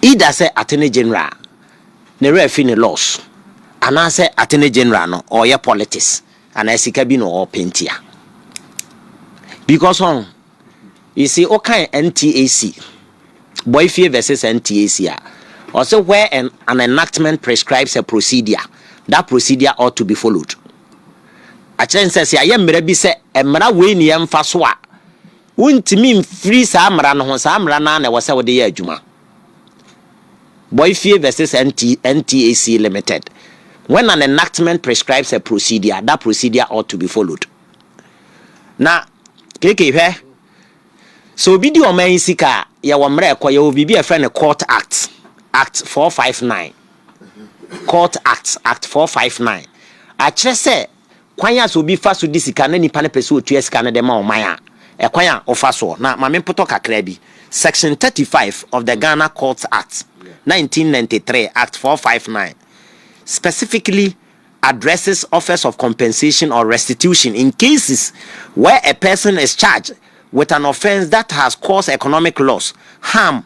Either sɛ Attorney General ne werɛ afi ne laws anaasɛ Attorney General no ɔreyɛ politics anaa sika bi na ɔrepɛ nti a. Because ɔn, you see wokan NTAC, Boifie versus NTAC a, ɔse where an, an enactment prescribes a procedure, that procedure ought to be followed. Akyerɛ ne sɛ sɛ yɛayɛ mmara bi sɛ mmara wei ne yɛmfa so a, Wontumi mfiri saa mmara no ho, saa mmara no ara na ɛwɔ sɛ wode yɛ adwuma. Boifie vs NT, NTAC Limited, When an enactment prescribes a procedure, that procedure ought to be followed. Na, Keke, hwɛ, sɛ obi di ɔman yi sika a, yɛwɔ mmara a ɛkɔ, yɛwɔ biribi a yɛfrɛ no Court Act, Act 459, Court Act, Act 459. Akyerɛ sɛ, Kwan a sɛ obi fa so di sika na nnipa no pɛ sɛ ɔtua sika no de ma ɔman a, ɛkwan a wɔfa soɔ. Na ma mempotɔ kakra bi. Section 35 of the Ghana Courts Act, 1993, Act 459, specifically addresses offers of compensation or restitution in cases where a person is charged with an offence that has caused economic loss, harm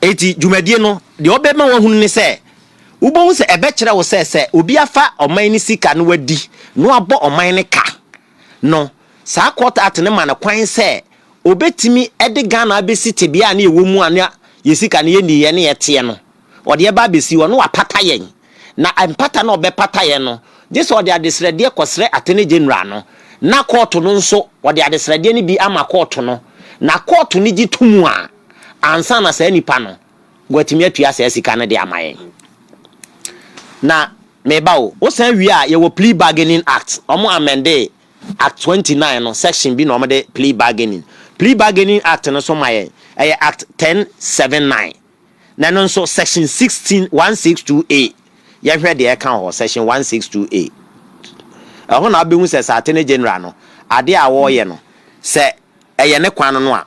Enti dwumadie no, deɛ ɔbɛma wahunu ne sɛ, wobɛhu sɛ ɛbɛkyerɛ wo sɛ sɛ obi afa ɔman no sika na wadi na wabɔ ɔman no ka no, saa Court Act no ma no kwan sɛ ɔbɛtumi de Ghana abɛsi tebea a na yɛwɔ mu a na yɛn sika no yɛnni yɛ ne ɛteɛ no, ɔde ɛba abɛsi hɔ na wapata yɛn. Na mpata no a ɔbɛpata yɛn no, gye sɛ ɔde adesrɛdeɛ kɔsrɛ Attorney General no, na kɔɔto no nso wɔde adesrɛdeɛ no bi ama kɔɔto no, na kɔɔto no gye to mu a, ansa na saa nipa no watumi atua saa sika no de ama yɛn. Na meba o, wosan wie a yɛwɔ plea bargaining act, wɔn amendee act twenty nine no section bi na wɔn de plea bargaining. Plea bargaining act no so ma yɛn, ɛyɛ act ten seven nine, na ɛno nso section sixteen one six two a, yɛhwɛ deɛ ɛka wɔ hɔ, section one six two a. Ɛhɔ na wobɛhu sɛ sɛ attorney general no adeɛ a wɔreyɛ no sɛ ɛyɛ ne kwan no a,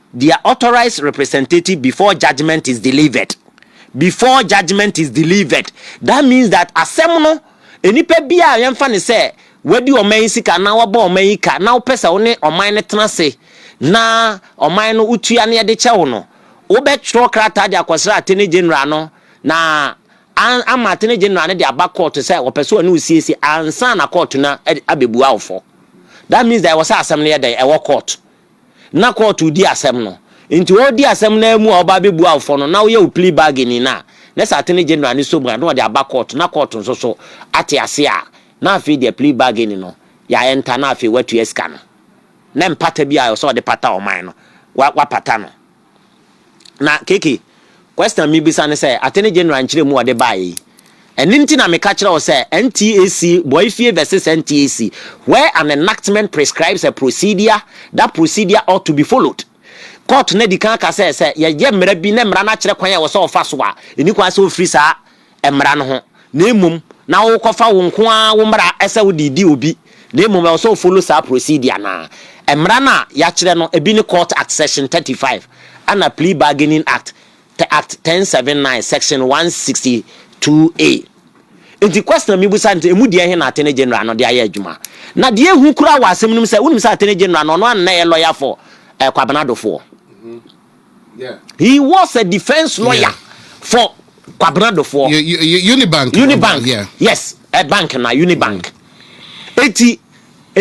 The authorized representative before judgement is delivered before judgement is delivered that means that asɛm no nnipa bi a yɛmfa ne sɛ wadi ɔman yi sika anaa wabɔ ɔman yi ka na wopɛ sɛ wo ne ɔman no tena ase na ɔman no wotua ne yɛde kyɛ wo no wobɛtwerɛ krataa de akɔsra atene general no na ama atene general no de aba kɔɔto sɛ wɔpɛ sɛ ɔne wosiesie ansa na kɔɔto no abɛbua wo fɔ that means that ɛwɔ sɛ asɛm no yɛ dɛn ɛwɔ kɔɔto na kɔɔto redi asɛm no. Ntsi ɔredi asɛm no ara mu a ɔba abebua awofo no na ɔyɛ wo plea bargaining no a, na sɛ Attorney General no som a, na ɔdze aba kɔɔto na kɔɔto nso so atse ase a, na afei deɛ plea bargaining no, yɛ enter na afei wɔatua sika no. Na mpata bi a ɔwɔ sɛ ɔde pata ɔman no, wɔapata no. Na KK, question a mebisa ne sɛ, Attorney General nkyerɛmu a ɔde baeɛ yi, ɛno nti na meka kyerɛ wo sɛ NTAC, Boayefie versus NTAC, where an enactment prescribes a procedure, that procedure ought to be followed. Court no adi kan aka sɛ, sɛ yɛyɛ mmara bi na mmara no akyerɛ kwan a ɛwɔ sɛ wɔfa so a, ɛnni kwan sɛ wɔfiri saa mmara no ho, na mmom na worekɔfa wo nko ara wo mmara sɛ wode redi obi, na mmom ɛwɔ sɛ wo follow saa procedure no ara. Mmara no a yɛakyerɛ no, ebi ne Court Act Section thirty five, ɛna Plea Bargaining Act, te Act ten seven nine, Section one sixty two A. Enti question a mibisa ne sɛ, emu deɛ he na Attorney General no de ayɛ adwuma? Na deɛ ehu koraa wɔ asɛm no mu sɛ, wonim sɛ Attorney General no, ɔno ara na na ɛyɛ lawyer for Kwabena Dofoɔ. He was a defense lawyer yeah. for Kwabena Dofoɔ. Unibank. Unibank. Yeah. Yes, a bank na Unibank. Mm. Eti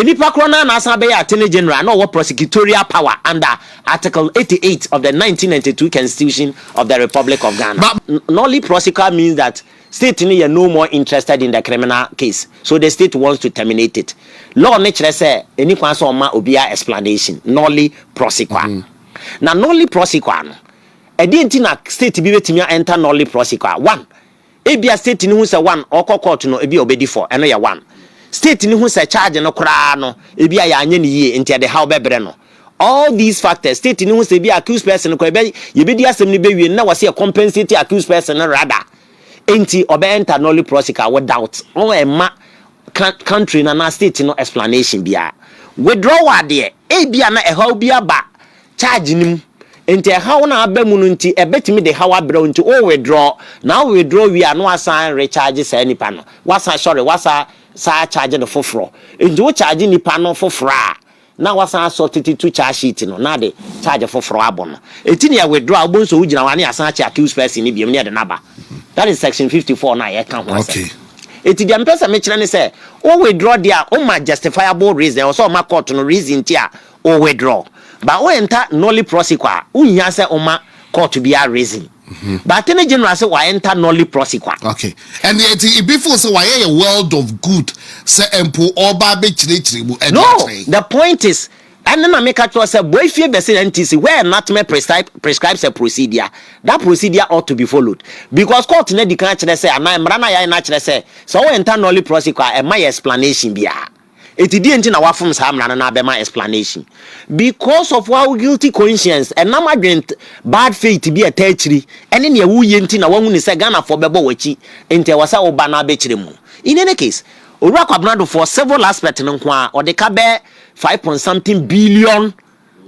nipa korɔ no na asan bɛyɛ attorney general na ɔwɔ prosecutorial power under article 88 of the 1992 constitution of the republic of ghana but, nolly prosecutor means that state no yɛ no more interested in the criminal case so the state wants to terminate it law no kyerɛ sɛ ɛni kwan sɛ ɔma obiara explanation nolly prosecutor mm -hmm. Na nollie prosequa no, ɛdeɛn nti na state bi bɛtumi a enter nollie prosequa? One, ebia state no hu sɛ one, ɔkɔ court no ebia ɔbɛdi fɔ, ɛno yɛ one. State no hu sɛ charge no koraa no ebia yɛanyɛ no yie nti ɛde haw bɛbrɛ no. All these factors, state no hu sɛ ebia accused person no koraa yɛbɛ, yɛbɛdi asɛm no bɛwie no na wɔse yɛ compensate accused person no rather, enti ɔbɛ enter nollie prosequa without, ɔmma ɛmma ka country no anaa state no explanation biara. Withdrawal deɛ, ebia na ɛhaw bi aba charge no mu, nti ɛhaw no a aba mu no nti ɛbɛtumi de haw abrɛ wo nti wo withdraw, na wo withdraw wie a na woasan recharge saa nipa no, woasan sorry, woasan saa charge no foforɔ, nti wo charge nipa no foforɔ a na wasan asɔ tete tu charge sheet no na ade charge foforo abɔ no eti na yɛ withdraw a wobɛhu sɛ wogyina hɔ a na yɛasan akyɛ accused person no biom na yɛde no aba that is section fifty four no a yɛka ho asɛm Okay. eti deɛ mepɛ sɛ mekyerɛ ne sɛ wo withdraw deɛ a woma justifiable reason ɛwɔ sɛ ɔma court no reason nti a wo withdraw but wo enter nolly prosequa a wonhia sɛ woma court biara reason. Mhm. But attorney general sɛ wa enter nolly prosi kwa. Okay. And yet ibi feel sɛ wayɛ yɛ world of good sɛ mpo ɔba abɛkyerɛkyerɛ mu ɛde No, akyerɛ. the point is ɛne na meka kyerɛ sɛ boifie bɛse NTC where NATME prescribe, prescribes a procedure that procedure ought to be followed because court no adi kan akyerɛ sɛ anaa mmara no a yɛayɛ no akyerɛ sɛ sɛ wo enter nolly prosi kwa a ɛma yɛ explanation biara. Enti deɛ nti na wafom saa mmara no na abɛma explanation because of our guilty conscience ɛnam adwen bad faith bi a ɛtaa akyiri ɛne nea woyɛ nti na wahunu sɛ Ghanafoɔ bɛbɔ w'akyi nti ɛwɔ sɛ woba na abɛkyerɛ mu In any case, Owura Kwabena Adofoɔ civil aspect no nko ara ɔde ka bɛyɛ five point something billion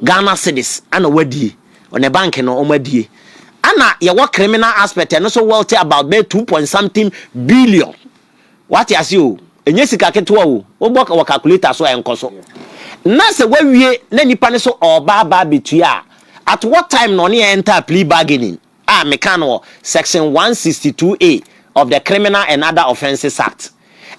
Ghana cedis ɛna wadie wɔ ne bank no wɔn adie ɛna yɛwɔ criminal aspect ɛno nso worth about bɛyɛ two point something billion Wate ase o, ɛnyɛ sika ketewa o, wobɔ wɔ calculator so a ɛnkɔ so. Na sɛ wawie na nipa no so ɔɔba aba abɛtua a, at what time na ɔne yɛn enter a plea bargaining a meka no wɔ section 162A of the Criminal and Other Offences Act.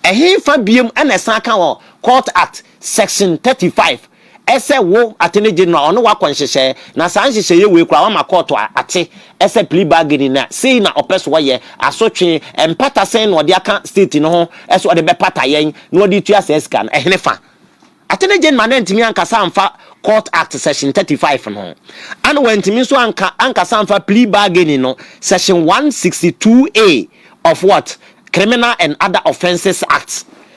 Ɛhefa biom ɛna ɛsan ka wɔ Court Act section 35 Ɛsɛ wo attorney general ɔne wo akɔ nhyehyɛɛ na saa nhyehyɛɛ wei koraa wama court ate ɛsɛ plea bargaining na sei na ɔpɛ sɛ ɔyɛ, asotwee, mpata sɛn na ɔde aka state no ho ɛsɛ ɔde bɛpata yɛn na ɔde tua saa sika no, ɛhene fa? Attorney general no antumi ankasa amfa court act section thirty five no ɛna wantumi nso anka ankasa amfa plea bargaining no section one sixty two A of what? Criminal and other offences act.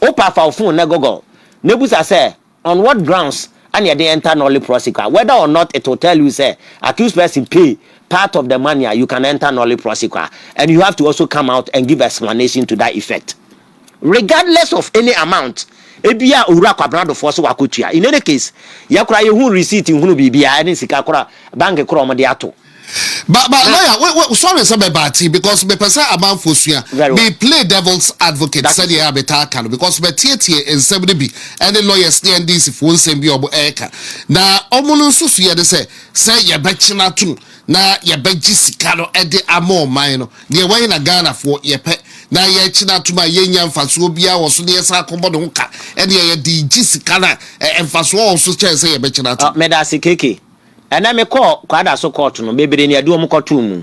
Wo paa fa wo phone na google na ebusa sɛ on what grounds ana yɛde enter Nolly prosequa whether or not it will tell you sɛ accused person pay part of the money a you can enter Nolly prosequa and you have to also come out and give explanation to that effect regardless of any amount ebia Owura Kwabena Adofoɔ so wakɔtua in any case yɛ koraa yɛhu receipt nhunu biribiara ɛne sika koro bank koro a wɔde ato Ba ba lawyer we we sorry sɛ bɛ baa ti because mepɛ sɛ amanfoɔ sua me play devil's advocate sɛdeɛ a metaa ka no because mɛtietie nsɛm no bi ɛne lawyers ne NDC foɔ nsɛm bi a wɔn ɛreka na wɔn no nso so yɛ ne sɛ sɛ yɛbɛkye no ato mu na yɛbɛgye sika no ɛde ama ɔman no deɛ wɔn na Ghanafoɔ yɛpɛ na yɛkye no ato mu a yɛnya mfasoɔ biara wɔ so ne yɛsan akɔbɔ ne ho ka ɛne yɛde gye sika no a mfasoɔ wɔ so kyɛn sɛ yɛbɛkye no ato mu. Meda ase keke. Ɛnɛ me kɔɔ kwadaso kɔɔto no bebree na ɛde wɔn kɔ too mu.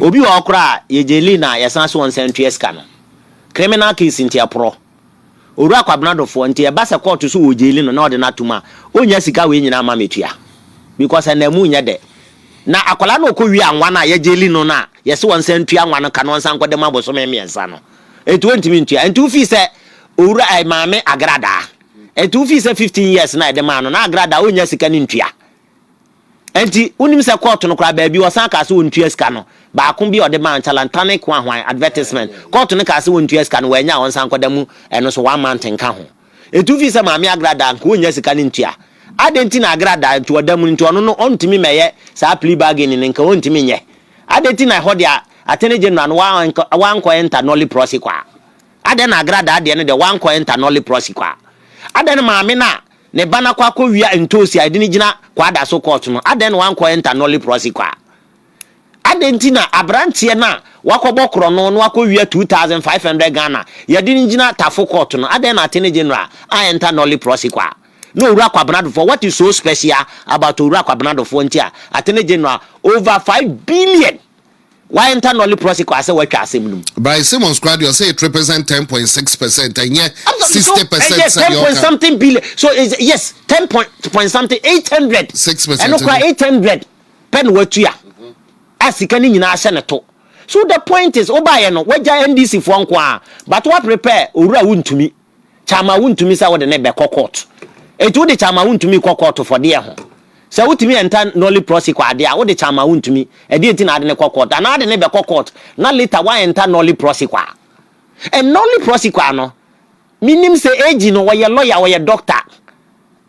Obi wɔ hɔ koraa a yɛgye lii na yɛsan ase wɔn nsa ntua sika no. Criminal case nti ɛporɔ. Owura Kwabena Dofoɔ nti ɛba sɛ kɔɔto so wɔ gyeli no na ɔde no atom a ɔnnya sika wei nyinaa mma mɛtua. Because ɛnam mu nyɛ dɛ. Na akwadaa no ɔkɔ wie a nwa no a yɛgye li no no a yɛse wɔn nsa ntua nwa no ka no ɔnsan nkɔda mu abosome mmiɛnsa no nti ɔntumi ntua. Nti wo fii sɛ owura ɛɛ maame Agradaa. Enti wofii sɛ fifteen years na yɛde maa no na Agra da a onnya sika no ntua. Enti wonim sɛ kɔɔto no koraa baabi wɔsan kaa sɛ ontua sika no, baako bi a ɔde maa Ntalantane Koahuan advertisement, kɔɔto no kaa sɛ ontua sika no, wannya a ɔnsan nkɔda mu ɛno nso one month nka ho. Enti wofii sɛ Maame Agra da nka onnya sika no ntua. Adɛn nti na Agra da nti ɔda mu no nti ɔno no ɔntumi mmɛyɛ saa plea bargaining no nka ɔntumi nyɛ? Adɛn nti na ɛhɔ deɛ Attorney General no wa wankɔ enter nolli prosequa? Adɛn na agradaa deɛ no deɛ wankɔ enter no leprosy kwa? Adɛn na maame no a ne ba no akɔ akɔwia ntoosi a yɛde no gyina Kwada so court no, adɛn na wankɔ enter no leprosy kwa? Adɛn nti na abranteɛ no a wakɔbɔ korɔno na wakɔwia 2500 Ghana yɛde no gyina Tafo court no, adɛn na Attorney General an enter no leprosy kwa? Na Owura Kwabena Adofoɔ, what is so special about Owura Kwabena Adofoɔ nti a Attorney General over five billion Why nta nɔli prɔsikɔ asɛ watwa asɛm no mu. By Simmons koraa deɛ ɔsɛ it represent ten point six percent ɛnyɛ sixty percent sɛdeɛ ɔka. Ɛyɛ ten point something billion so is yes ten point point something eight hundred. Six percent ɛno koraa eight hundred pɛ na watua a sika ne nyinaa ahyɛ ne to so the point is wobaayɛ no wagya NDC foɔ nko ara but wa prepare owura wontumi. Kyama wontumi sɛ wode ne bɛkɔ court. Enti wode kyama wontumi kɔ court for deɛ ho? Sɛ wotumi enter nolly prossy kɔ adeɛ a wode kyama wontumi ɛdeɛ nti na ade ne kɔ court anaa ade ne bɛkɔ court na later wa enter nolly prossy kɔ a and nolly prossy kɔ a no menim sɛ AG no ɔyɛ lawyer ɔyɛ doctor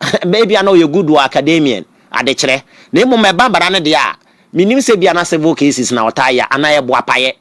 ebia na ɔyɛ good wɔ academian adekyerɛ na mmom ɛba bara no deɛ a menim sɛ bia na civil cases na ɔtaa yɛ anaa ɛboapayɛ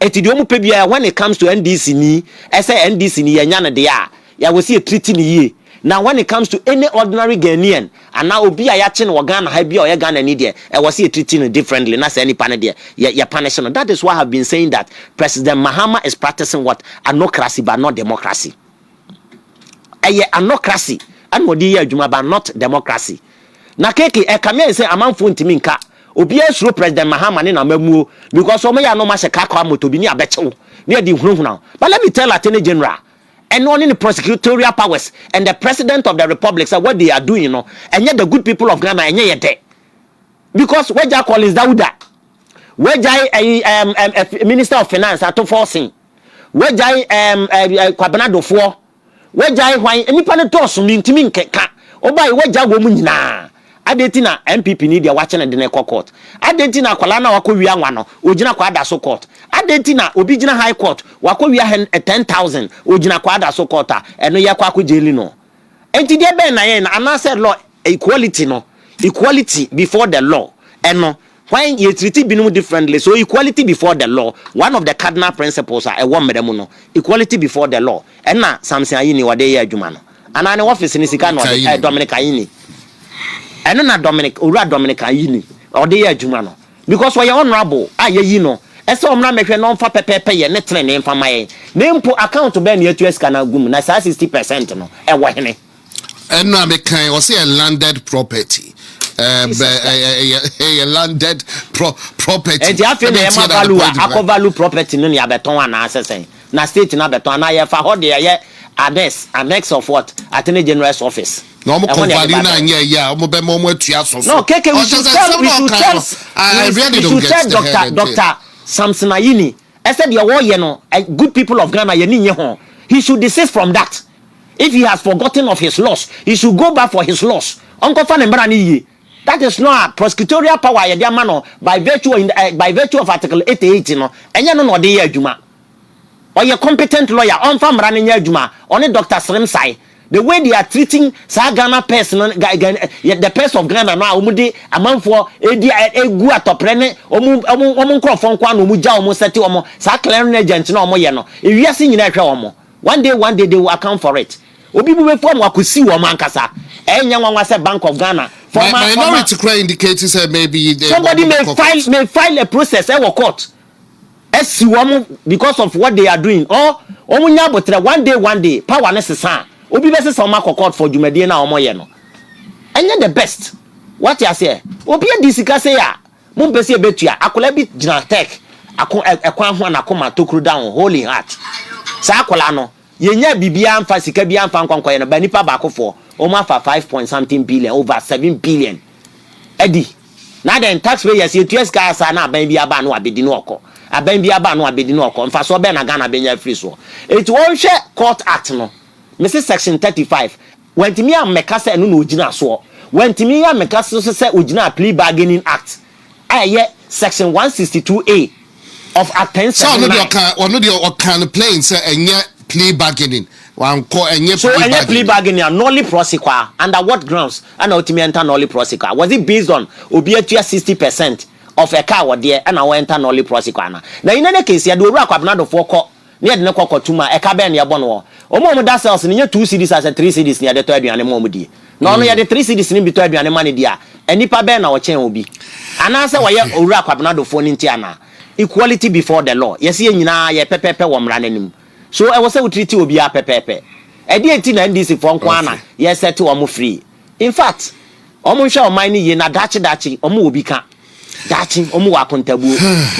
Ɛti deɛ ɔmo pɛ biara when it comes to NDC ni ɛsɛ NDC ni yɛnya no deɛ a yɛwɔ sɛ yɛ treat no yie na when it comes to any ordinary Ghanaian anaa obi a yakye no wɔ Ghana ha bi a ɔyɛ Ghana ni deɛ ɛwɔ sɛ yɛ treat no differently na saa nipa no deɛ yɛ yɛ punish no that is why I have been saying that President Mahama is practicing what anocracy but not democracy. Ɛyɛ anocracy na ɔde yɛ adwuma but not democracy. Na keke ɛka me ayɛ sɛ amanfoɔ ntumi nka. Obiara suro President Mahama ne n'amammuo because wɔn yɛ a na wɔn ahyɛ car kɔ amoto bi ne abɛkye wo ne adi nhunahuna wo. But let me tell Attorney General ɛne ɔne ne prosecutorial powers and the President of the Republic sɛ what they are doing no ɛnyɛ the good people of Ghana ɛnyɛ yɛ dɛ because wagya Collins Dawuda wagyae ɛyi ɛm ɛm Minister of Finance Ato Forson. Wagyae ɛɛm ɛɛ ɛɛ Kwabena Dofoɔ, wagyae hwan? Nnipa no dɔɔso mentumi nkeka. Wobae wagya wɔn nyinaa. Adɛn nti na NPP ni deɛ wakye no de no kɔ court? Adɛn nti na akwadaa no a wakɔ wia nwa no ɔgyina kɔ ada so court? Adɛn nti na obi gyina high court wakɔ wia hɛn ten thousand ɔgyina kɔ ada so court a ɛno yɛkɔ akɔ gyeli no? Nti deɛ bɛn na yɛn no anaasɛ law equality no equality before the law ɛno Hwan, Yɛ treat binom differently, so equality before the law, one of the cardinal principles a ɛwɔ mmara mu no, equality before the law, ɛna Samson Ayini ɔde yɛ adwuma no, anaa ne office no sika na ɔde, ɛɛ Dominic Ayini, ɛno na Dominic, Owura Dominic Ayini ɔde yɛ adwuma no, because ɔyɛ honourable a yɛayi no sɛ ɔmmra mmɛhwɛ na ɔmfa pɛpɛɛpɛ yɛ ne tenenee mfa mma yɛn, na mpo account bɛn na yɛtua sika no agu mu, na saa sixty percent no ɛwɔ hene? ɛno a mekan ɔsɛ yɛ landed property yɛ landed property ɛnti afei na yɛma value a akɔ value property no ne abɛtɔn anaasɛ sɛn na state no abɛtɔn anaa yɛfa hɔ de ɛyɛ annex annex of what attorney general's office na wɔn kɔ value na anyɛ ɛyɛ a wɔn bɛma wɔn atua asɔfo no keke we should tell we should tell we should tell doctor doctor Samson Ayini ɛsɛ deɛ wɔyɛ no good people of Ghana yɛn ni nye ho he should desist from that. If he has forgotten of his loss, he should go back for his loss. Ɔnkɔfa ne mmara no yie. That is not a prosecutorial power a yɛde ama no by virtue of, eh, by virtue of Article 88 no, ɛnyɛ no na ɔde yɛ adwuma. Ɔyɛ competent lawyer, ɔmfa mmara no nyɛ adwuma. Ɔne Doctor Sremsae. The way they are treating saa Ghana purse no, Ga, Ga, eh, the purse of Ghana no a wɔde amanfoɔ ɛdi, eh, ɛgu atɔprɛ ne wɔn, wɔn, wɔn nkorɔfoɔ nko ara na wɔgya wɔn sɛte wɔn, saa clearing agent no a wɔyɛ no, ewiase nyinaa ɛhwɛ wɔn. One day one day they will account for it obi bu bɛfu ɔmo akɔsi wɔn ankasa ɛyɛ nyɛ nwanwa sɛ bank of Ghana former former Minority kura indicate sɛ maybe they somebody may file may file a process ɛwɔ court ɛsi wɔn because of what they are doing or wɔn nya abotrɛ one day one day power no sesa a obi bɛsesa wɔn akɔ court for dwumadie no a wɔyɛ no ɛnyɛ the best wate aseɛ obi adi sika sei a. Mompɛ sɛ yɛbɛtua? Akwadaa bi gyina Turk ako, ɛ, kwan ho a n'akoma tokuro da ho, Holy Heart. Saa akwadaa no, yɛnyaa biribiara mfa, sika biara mfa nkɔ nkɔyɛ no, but nnipa baakofoɔ, wɔafa five point something billion, over seven billion adi. Na adɛn, taxpayers, yɛtua sika ara saa na aban bi aba a na wabɛdi no ɔkɔ. Aban bi aba a na wabɛdi no ɔkɔ. Mfasoɔ bɛn na Ghana bɛnya afiri soɔ? Enti wɔnhwɛ Court Act no, mese Section thirty five, Wantumi ammɛka sɛ ɛno na ogyina soɔ. Wantumi ammɛka nso sɛ ogyinaa Plea Bargaining Act a ɛyɛ Section 162A of Athens Sɛ ɔno deɛ 79. ɔkaa, ɔno deɛ ɔkaa no plain sɛ ɛnyɛ plea bargaining. Wankɔ, ɛnyɛ So plea ɛnyɛ plea bargaining. bargaining a, nolle prosse kwa a, under what grounds ɛna ɔtumi enter nolle prosse kwa? Was it based on obi atua 60 percent of a car ɔdeɛ ɛna ɔ enter nolle prosse kwa anaa? Na in any case yɛde Owura Kwabena Dofoɔ kɔ na yɛde no kɔ kɔtom a, ɛka bɛn na yɛbɔ no wɔ hɔ? Wɔn a wɔda cells no nyɛ two cedis anaasɛ three cedis na yɛde tɔ aduane ma wɔdi. Na ɔno yɛde three cedis no bi tɔ aduane ma no di a, nnipa bɛn na wɔkyɛn obi? Anaasɛ wɔyɛ Owura Kwabenadofoɔ no nti anaa? Equality before the law, yɛse yɛn nyinaa yɛ pɛpɛɛpɛ wɔ mmara no anim. So ɛwɔ sɛ wo treat obiara pɛpɛɛpɛ. Ɛdeɛn nti na NDC foɔ nko ara na yɛ set wɔn free? In fact, wɔn nhwɛ ɔman no yie na daakye daakye wɔn wɔ bi ka. Daakye wɔn wɔ akontabuo.